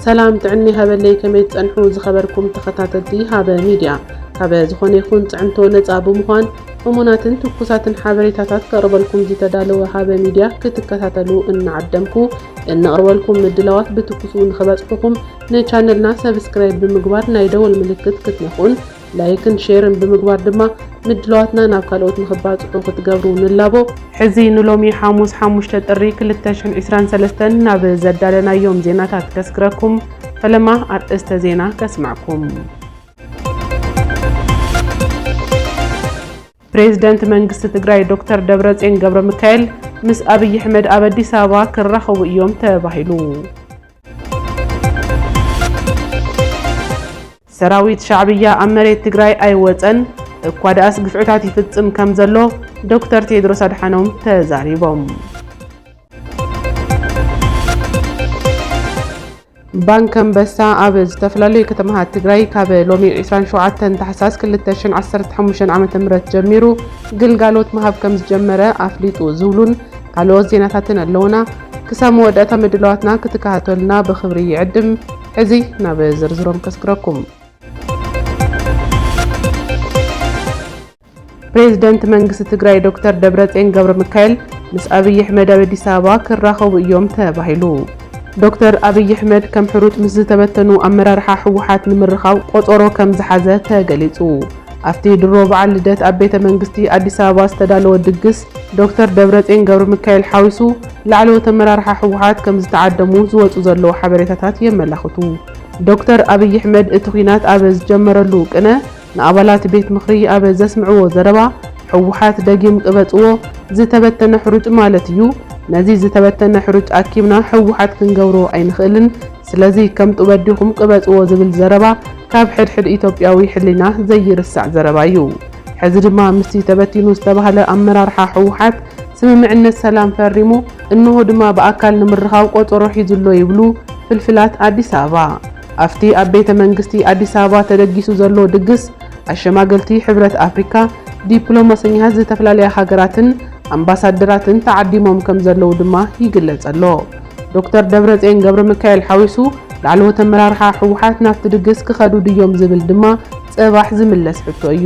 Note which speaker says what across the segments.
Speaker 1: ሰላም ጥዕና ሃበለይ ከመይ ትጸንሑ ዝኸበርኩም ተኸታተልቲ ሃበ ሚድያ ካበ ዝኾነ ይኹን ጽዕንቶ ነጻ ብምዃን እሙናትን ትኩሳትን ሓበሬታታት ከቕርበልኩም ዝተዳለወ ሃበ ሚድያ ክትከታተሉ እናዓደምኩ እንቕርበልኩም ምድላዋት ብትኩሱ ንኽበጽሑኹም ንቻነልና ሰብስክራይብ ብምግባር ናይ ደወል ምልክት ክትነክኡን ላይክን ሼርን ብምግባር ድማ ምድላዋትና ናብ ካልኦት ንኽባፅሑ ክትገብሩ ንላቦ። ሕዚ ንሎሚ ሓሙስ ሓሙሽተ ጥሪ ክልተ ሽሕን ዒስራን ሰለስተን ናብ ዘዳለናዮም ዜናታት ከስግረኩም። ፈለማ ኣርእስተ ዜና ከስመዕኩም። ፕሬዝደንት መንግስቲ ትግራይ ዶክተር ደብረፅዮን ገብረሚካኤል ምስ ኣብይ ኣሕመድ ኣብ ኣዲስ ኣበባ ክራኸቡ እዮም ተባሂሉ። ሰራዊት ሻዕብያ ኣብ መሬት ትግራይ ኣይወፀን፣ እኳ ደኣስ ግፍዕታት ይፍፅም ከም ዘሎ ዶክተር ቴድሮስ ኣድሓኖም ተዛሪቦም። ባንክ ኣንበሳ ኣብ ዝተፈላለዩ ከተማታት ትግራይ ካብ ሎሚ 27 ታሕሳስ 2015 ዓ.ም ጀሚሩ ግልጋሎት ምሃብ ከም ዝጀመረ ኣፍሊጡ ዝብሉን ካልኦት ዜናታትን ኣለውና። ክሳብ መወዳእታ ምድላዋትና ክትከታተሉና ብኽብሪ ይዕድም። ሕዚ ናብ ዝርዝሮም ከስግረኩም። ፕሬዝደንት መንግስቲ ትግራይ ዶክተር ደብረፅዮን ገብረሚካኤል ምስ ኣብይ ኣሕመድ ኣብ ኣዲስ ኣበባ ክራኸቡ እዮም ተባሂሉ። ዶክተር ኣብይ ኣሕመድ ከም ሕሩጭ ምስ ዝተበተኑ ኣመራርሓ ህወሓት ንምርኻብ ቆፀሮ ከም ዝሓዘ ተገሊፁ። ኣብቲ ድሮ በዓል ልደት ኣብ ቤተ መንግስቲ ኣዲስ ኣበባ ዝተዳለወ ድግስ ዶክተር ደብረፅዮን ገብረሚካኤል ሓዊሱ ላዕለዎት ኣመራርሓ ህወሓት ከምዝተዓደሙ ዝወፁ ዘለዉ ሓበሬታታት የመላኽቱ። ዶክተር ኣብይ ኣሕመድ እቲ ኲናት ኣብ ዝጀመረሉ ቅነ ንኣባላት ቤት ምኽሪ ኣብ ዘስምዕዎ ዘረባ ህወሓት ደጊም ቅበፅዎ ዝተበተነ ሕሩጭ ማለት እዩ፣ ነዚ ዝተበተነ ሕሩጭ ኣኪብና ህወሓት ክንገብሮ ኣይንኽእልን፣ ስለዚ ከም ጡበ ዲኹም ቅበጽዎ ዝብል ዘረባ ካብ ሕድሕድ ኢትዮጵያዊ ሕሊና ዘይርሳዕ ዘረባ እዩ። ሕዚ ድማ ምስቲ ተበቲኑ ዝተባህለ ኣመራርሓ ህወሓት ስምምዕነት ሰላም ፈሪሙ እንሆ ድማ ብኣካል ንምርኻብ ቆጸሮ ሒዙ'ሎ ይብሉ ፍልፍላት ኣዲስ ኣበባ። ኣፍቲ ኣብ ቤተ መንግስቲ ኣዲስ ኣበባ ተደጊሱ ዘሎ ድግስ ኣሸማገልቲ ሕብረት ኣፍሪካ፣ ዲፕሎማሰኛታት ዝተፈላለያ ሃገራትን ኣምባሳደራትን ተዓዲሞም ከምዘለዉ ድማ ይግለጸ'ሎ። ዶክተር ደብረፅዮን ገብረሚካኤል ሓዊሱ ላዕለዎት ኣመራርሓ ህወሓት ናብቲ ድግስ ክኸዱ ድዮም ዝብል ድማ ፅባሕ ዝምለስ ሕቶ እዩ።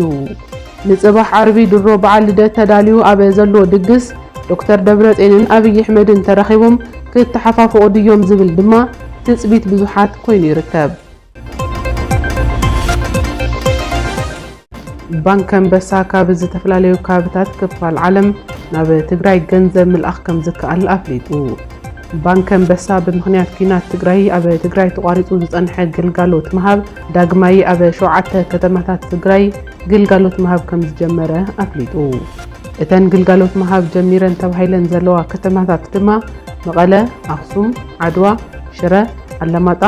Speaker 1: ንፅባሕ ዓርቢ ድሮ በዓል ልደት ተዳልዩ ኣብ ዘሎ ድግስ ዶክተር ደብረፅዮንን ኣብይ ኣሕመድን ተራኺቦም ክተሓፋፍቑ ድዮም ዝብል ድማ ትፅቢት ብዙሓት ኮይኑ ይርከብ። ባንኪ ኣንበሳ ካብ ዝተፈላለዩ ከባብታት ክፋል ዓለም ናብ ትግራይ ገንዘብ ምልኣኽ ከም ዝከኣል ኣፍሊጡ። ባንኪ ኣንበሳ ብምኽንያት ኲናት ትግራይ ኣብ ትግራይ ተቋሪፁ ዝፀንሐ ግልጋሎት ምሃብ ዳግማይ ኣብ ሸውዓተ ከተማታት ትግራይ ግልጋሎት ምሃብ ከም ዝጀመረ ኣፍሊጡ። እተን ግልጋሎት ምሃብ ጀሚረን ተባሂለን ዘለዋ ከተማታት ድማ መቐለ፣ ኣኽሱም፣ ዓድዋ፣ ሽረ፣ ኣላማጣ፣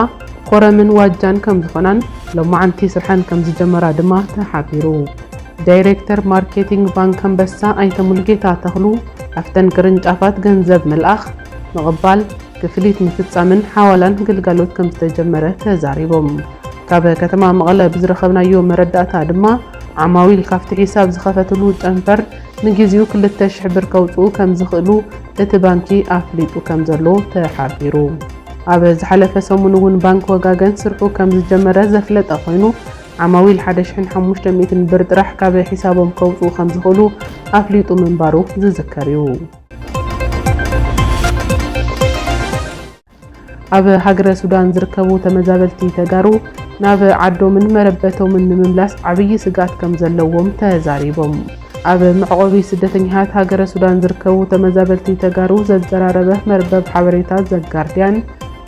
Speaker 1: ኮረምን ዋጃን ከምዝኾናን ሎማዕንቲ ስርሐን ከምዝጀመራ ድማ ተሓቢሩ። ዳይሬክተር ማርኬቲንግ ባንክ ኣንበሳ ኣይተ ሙሉጌታ ተኽሉ ኣፍተን ቅርንጫፋት ገንዘብ ምልኣኽ፣ ምቕባል፣ ክፍሊት ምፍፃምን ሓዋላን ግልጋሎት ከምዝተጀመረ ተዛሪቦም። ካብ ከተማ መቐለ ብዝረኸብናዮ መረዳእታ ድማ ዓማዊል ካፍቲ ሒሳብ ዝኸፈትሉ ጨንፈር ንግዚኡ ክልተ ሽሕ ብር ከውፅኡ ከምዝኽእሉ እቲ ባንኪ ኣፍሊጡ ከምዘሎ ተሓቢሩ። ኣብ ዝሓለፈ ሰሙን እውን ባንኪ ወጋገን ስርሑ ከም ዝጀመረ ዘፍለጠ ኮይኑ ዓማዊል ሓደ ሽሕን ሓሙሽተ ሚእትን ብር ጥራሕ ካብ ሒሳቦም ከውፅኡ ከም ዝኽእሉ ኣፍሊጡ ምንባሩ ዝዝከር እዩ። ኣብ ሃገረ ሱዳን ዝርከቡ ተመዛበልቲ ተጋሩ ናብ ዓዶምን መረበቶምን ንምምላስ ዓብዪ ስግኣት ከም ዘለዎም ተዛሪቦም። ኣብ መዕቖቢ ስደተኛታት ሃገረ ሱዳን ዝርከቡ ተመዛበልቲ ተጋሩ ዘዘራረበ መርበብ ሓበሬታ ዘጋርድያን፣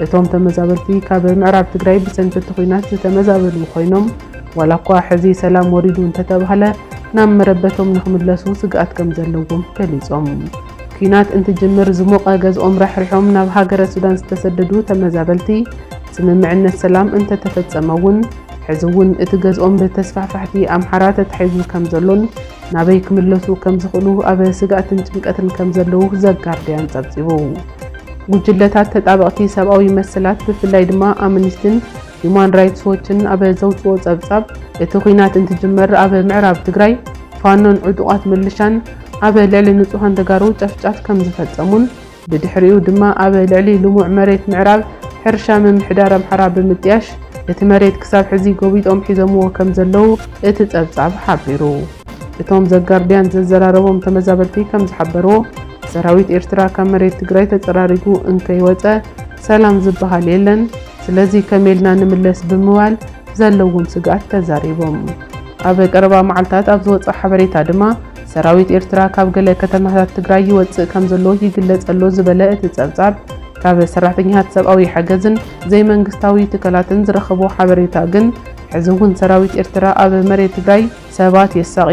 Speaker 1: እቶም ተመዛበልቲ ካብ ምዕራብ ትግራይ ብሰንኪ እቲ ኹናት ዝተመዛበሉ ኾይኖም ዋላ እኳ ሕዚ ሰላም ወሪዱ እንተተብሃለ ናብ መረበቶም ንክምለሱ ስግኣት ከምዘለዎም ገሊፆም። ኲናት እንትጅምር ዝሞቐ ገዝኦም ራሕሪሖም ናብ ሃገረ ሱዳን ዝተሰደዱ ተመዛበልቲ ስምምዕነት ሰላም እንተተፈፀመ እውን ሕዚ እውን እቲ ገዝኦም ብተስፋሕፋሕቲ ኣምሓራ ተታሒዙ ከምዘሎን ናበይ ክምለሱ ከምዝኽእሉ ኣብ ስግኣትን ጭንቀትን ከምዘለዉ ዘጋርድያን ፀብፂቡ። ጉጅለታት ተጣበቕቲ ሰብኣዊ መሰላት ብፍላይ ድማ ኣምኒስቲን ሂዩማን ራይትስ ዎችን ኣብ ዘውፅኦ ፀብፃብ እቲ ኹናት እንትጅመር ኣብ ምዕራብ ትግራይ ፋኖን ዕጡቓት ምልሻን ኣብ ልዕሊ ንፁሃን ተጋሩ ጨፍጫፍ ከምዝፈፀሙን ብድሕሪኡ ድማ ኣብ ልዕሊ ልሙዕ መሬት ምዕራብ ሕርሻ ምምሕዳር ኣምሓራ ብምጥያሽ እቲ መሬት ክሳብ ሕዚ ጎቢጦም ሒዞምዎ ከምዘለዉ እቲ ጸብጻብ ሓቢሩ። እቶም ዘጋርድያን ዘዘራረቦም ተመዛበልቲ ከምዝሓበርዎ፣ ሰራዊት ኤርትራ ካብ መሬት ትግራይ ተጸራሪጉ እንከይወጸ ሰላም ዝበሃል የለን፣ ስለዚ ከመይልና ንምለስ ብምባል ዘለዎም ስግኣት ተዛሪቦም። ኣብ ቀረባ መዓልታት ኣብ ዝወጸ ሓበሬታ ድማ፣ ሰራዊት ኤርትራ ካብ ገለ ከተማታት ትግራይ ይወጽእ ከምዘሎ ይግለጽ ኣሎ ዝበለ እቲ ጸብጻብ፣ ካብ ሰራሕተኛታት ሰብኣዊ ሓገዝን ዘይመንግስታዊ ትካላትን ዝረኸቦ ሓበሬታ ግን፣ ሕዚ እውን ሰራዊት ኤርትራ ኣብ መሬት ትግራይ ሰባት የሳቒ፣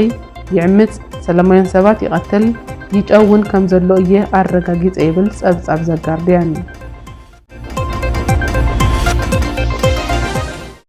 Speaker 1: ይዕምጽ፣ ሰላማውያን ሰባት ይቐትል፣ ይጨውን ከምዘሎ እየ ኣረጋጊጸ ይብል ጸብጻብ ዘጋርድያን።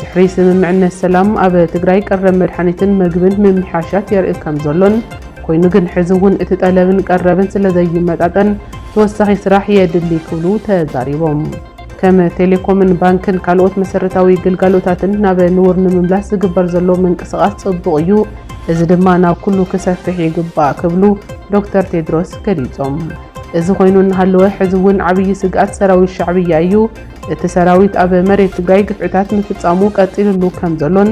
Speaker 1: ድሕሪ ስምምዕነት ሰላም ኣብ ትግራይ ቀረብ መድሓኒትን መግብን ምምሕያሻት የርኢ ከምዘሎን ኮይኑ ግን ሕዚ እውን እቲ ጠለብን ቀረብን ስለዘይመጣጠን ተወሳኺ ስራሕ የድሊ ክብሉ ተዛሪቦም። ከም ቴሌኮምን ባንክን ካልኦት መሰረታዊ ግልጋሎታትን ናብ ንቡር ንምምላስ ዝግበር ዘሎ ምንቅስቓስ ጽቡቕ እዩ፣ እዚ ድማ ናብ ኩሉ ክሰፍሕ ይግባእ ክብሉ ዶክተር ቴድሮስ ገሊጾም። እዚ ኮይኑ እናሃለወ ሕዚ እውን ዓብዪ ስግኣት ሰራዊት ሻዕብያ እዩ። እቲ ሰራዊት ኣብ መሬት ትግራይ ግፍዕታት ምፍፃሙ ቀፂልሉ ከምዘሎን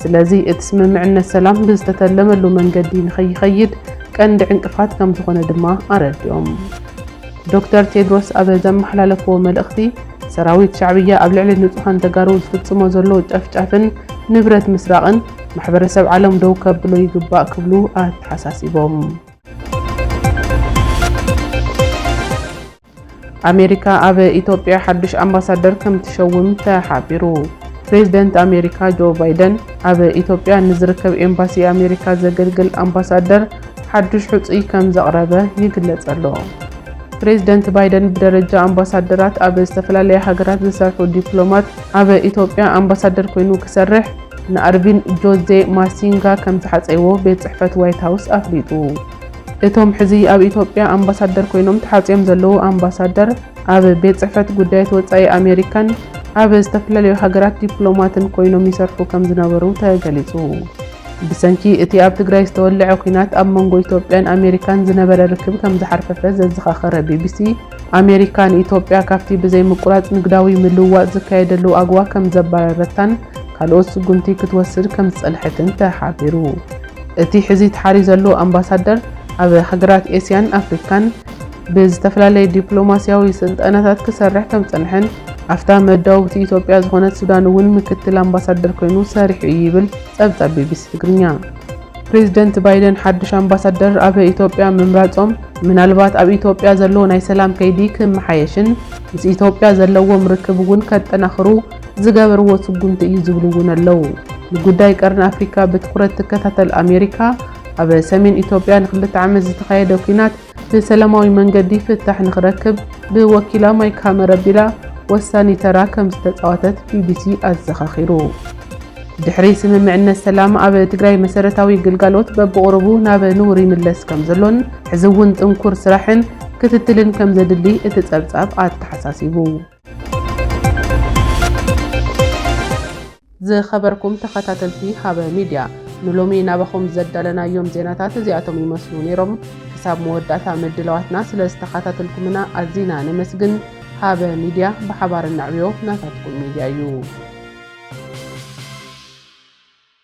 Speaker 1: ስለዚ እቲ ስምምዕነት ሰላም ብዝተተለመሉ መንገዲ ንከይኸይድ ቀንዲ ዕንቅፋት ከምዝኾነ ድማ ኣረዲኦም። ዶክተር ቴድሮስ ኣብ ዘመሓላለፍዎ መልእኽቲ፣ ሰራዊት ሻዕብያ ኣብ ልዕሊ ንፁሃን ተጋሩ ዝፍፅሞ ዘሎ ጨፍጫፍን ንብረት ምስራቕን ማሕበረሰብ ዓለም ደው ከብሎ ይግባእ ክብሉ ኣተሓሳሲቦም። ኣሜሪካ ኣብ ኢትዮጵያ ሓዱሽ ኣምባሳደር ከምትሸውም ተሓቢሩ። ፕሬዝደንት ኣሜሪካ ጆ ባይደን ኣብ ኢትዮጵያ ንዝርከብ ኤምባሲ ኣሜሪካ ዘገልግል ኣምባሳደር ሓዱሽ ሕፁይ ከምዘቕረበ ይግለፀሎ። ፕሬዝደንት ባይደን ብደረጃ ኣምባሳደራት ኣብ ዝተፈላለያ ሃገራት ዝሰርሑ ዲፕሎማት ኣብ ኢትዮጵያ ኣምባሳደር ኮይኑ ክሰርሕ ንኣርቪን ጆዜ ማሲንጋ ከምዝሓፀይዎ ቤት ፅሕፈት ዋይት ሃውስ ኣፍሊጡ። እቶም ሕዚ ኣብ ኢትዮጵያ ኣምባሳደር ኮይኖም ተሓጽዮም ዘለዉ ኣምባሳደር፣ ኣብ ቤት ጽሕፈት ጉዳያት ወጻኢ ኣሜሪካን ኣብ ዝተፈላለዩ ሃገራት ዲፕሎማትን ኮይኖም ይሰርሑ ከምዝነበሩ ተገሊጹ። ብሰንኪ እቲ ኣብ ትግራይ ዝተወልዐ ኲናት ኣብ መንጎ ኢትዮጵያን ኣሜሪካን ዝነበረ ርክብ ከምዝሓርፈፈ ዘዘኻኸረ ቢቢሲ፣ ኣሜሪካ ንኢትዮጵያ ካብቲ ብዘይምቁራጽ ንግዳዊ ምልውዋጥ ዝካየደሉ ኣጎዋ ከምዘባረረታን ካልኦት ስጉምቲ ክትወስድ ከምዝጸንሐትን ተሓቢሩ። እቲ ሕዚ ተሓርዩ ዘሎ ኣምባሳደር ኣብ ሃገራት ኤስያን ኣፍሪካን ብዝተፈላለየ ዲፕሎማሲያዊ ስልጠናታት ክሰርሕ ከምዝፀንሐን ኣፍታ መዳውብቲ ኢትዮጵያ ዝኾነት ሱዳን እውን ምክትል ኣምባሳደር ኮይኑ ሰሪሑ እዩ ይብል ፀብፃብ ቢቢሲ ትግርኛ። ፕሬዝደንት ባይደን ሓዱሽ ኣምባሳደር ኣብ ኢትዮጵያ ምምራፆም ምናልባት ኣብ ኢትዮጵያ ዘሎ ናይ ሰላም ከይዲ ክመሓየሽን ምስ ኢትዮጵያ ዘለዎም ርክብ እውን ከጠናኽሩ ዝገበርዎ ስጉምቲ እዩ ዝብሉ እውን ኣለዉ። ንጉዳይ ቀርኒ ኣፍሪካ ብትኹረት ትከታተል ኣሜሪካ፣ ኣብ ሰሜን ኢትዮጵያ ንክልተ ዓመት ዝተኻየደ ኲናት ብሰላማዊ መንገዲ ፍታሕ ንክረክብ ብወኪላ ማይክ ሃመር ኣቢላ ወሳኒ ተራ ከምዝተፃወተት ቢቢሲ ኣዘኻኺሩ። ድሕሪ ስምምዕነት ሰላም ኣብ ትግራይ መሰረታዊ ግልጋሎት በብቑሩቡ ናብ ንቡር ይምለስ ከምዘሎን ሕዚ እውን ጥንኩር ስራሕን ክትትልን ከምዘድሊ እቲ ፀብፃብ ኣተሓሳሲቡ። ዝኸበርኩም ተኸታተልቲ ሃበ ሚድያ ንሎሚ ናባኹም ዘዳለናዮም ዜናታት እዚኣቶም ይመስሉ ነይሮም። ክሳብ መወዳእታ ምድላዋትና ስለ ዝተኸታተልኩምና ኣዚና ነመስግን። ሃበ ሚድያ ብሓባር እናዕብዮ ናታትኩም ሚድያ እዩ።